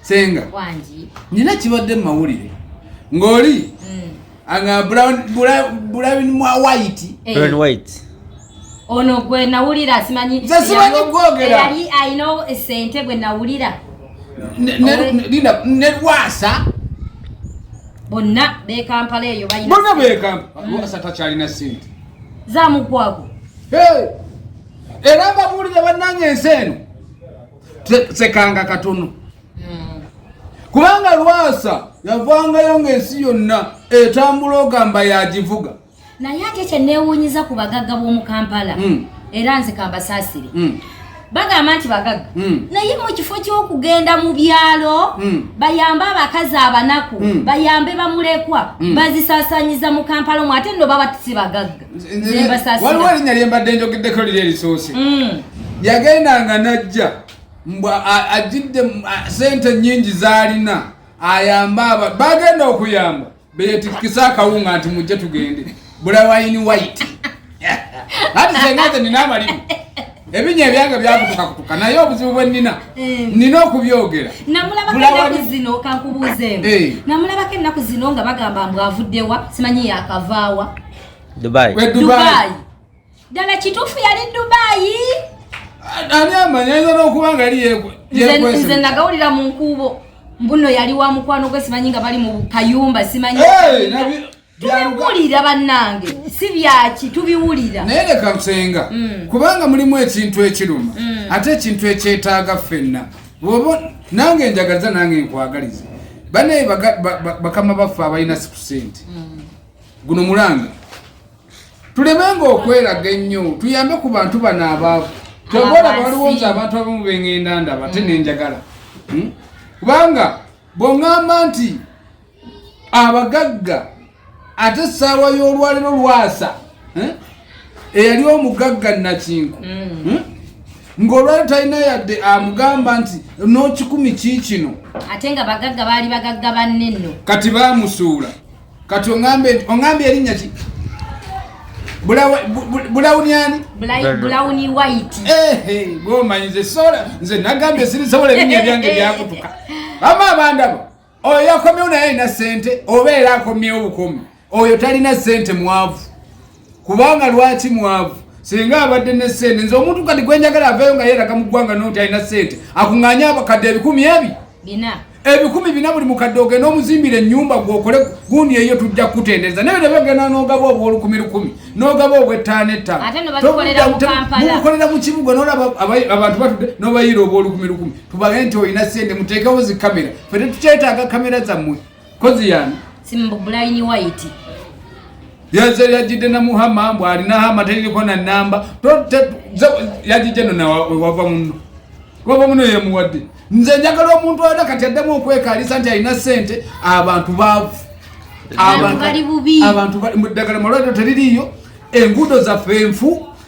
senga wangi nina kibadde mumawulire ngoli mm. anga brown brown mwa white eh. brown white ono gwe nawulira simanyi nze simanyi kwogera yali alina esente gwe nawulira linda nerwasa bonna bekampala eyo balina bonna bekampala mm. wasa takyalina sente zamugwago era mbabuulire bannange ensi eno sekanga katono hmm. kubanga lwasa yavangayo ng'ensi yonna etambula ogamba yagivuga naye ate kyenewunyiza ku bagagga b'omu kampala hmm. era nze kambasaasire hmm. bagamba nti bagagga hmm. naye mu kifo ky'okugenda mu byalo bayambe abakazi abanaku bayambe bamulekwa bazisasanyiza mu kampala omu ate no baba tisi bagagga waliwo erinnya lye mbadde njogeddeko liri erisoose mm. yagendanga n'ajja mbu ajjidde sente nnyingi z'alina ayambe aba bagenda okuyamba beyetikkisa akawunga nti mujje tugende bulawayini waiti ati sengaze nina amalimu ebinya ebyange byakutukakutuka naye obuzibu bwe nina eh. nina okubyogera namulabako ennaku zino eh. nga bagamba mbwavuddewa simanyi yakavaawa Dubai. We Dubai. Dubai. Dala kitufu yali Dubai. Ani amanya izo no kubanga ali yekwe. Nze nze nagawulira mu nkubo. Mbuno yali wa mukwano gwe simanyi nga bali mu kayumba simanyi. Hey, nabi. Tubiwulira banange. Si byaki tubiwulira. Naye leka kusenga. Mm. Kubanga mulimu ekintu ekiruma. Mm. Ate ekintu ekyetaaga fenna. Bobo nange njagaliza nange nkwagaliza. Bane bakama baffa abalina sikusente. Mm. guno mulanga tulemenga okweraga ennyo tuyambe ku bantu bano abaavu teboola waliwo nze abantu abamu bengenda ndaba te nenjagala hmm? kubanga bwongamba nti abagagga ate essaawa y'olwaliro lwasa hmm? eyali omugagga nakinku hmm. hmm? ng'olwali talina yadde amugamba nti n'okikumi kiikino ate nga bagagga baali bagagga banne nno kati baamusuula kati ongambe ongambe erinnya ki bulawuni ani bulawuni white gomanyi nze sola nze nagambye sirisobola ebinya ebyange byakutuka ama abandabo oyo yakomyewo naye alina sente oba era akomyewo bukomi oyo talina sente mwavu kubanga lwaki mwavu singa abadde ne sente nze omuntu kati gwenjagala aveyo nga yeraga mu ggwanga noti alina sente akuŋŋanya abakadde ebikumi ebi bina ebikumi bina buli mukadde ogenda omuzimbira ennyumba gwokole gundi eyo tujja kukutendereza naye nebagenda nogaba obwolukumi lukumi nogaba obwettaano ettaanomukolera mu kibuga nolaba abantu batude nobayiira obwolukumi lukumi tubage nti olina sente muteekewo zikamera fe tetukyetaaga kamera zammwe kozi yani simbo bulaini white yaze yajide na muhama mbu alina hama tayini kwa na namba yajije no na wava muno wava muno ye muwadi nze njagala omuntu wada kati adamu okweka alisa nti alina sente abantu bavu abantu bali bubi abantu bali mudagala malwado teliliyo engudo za fenfu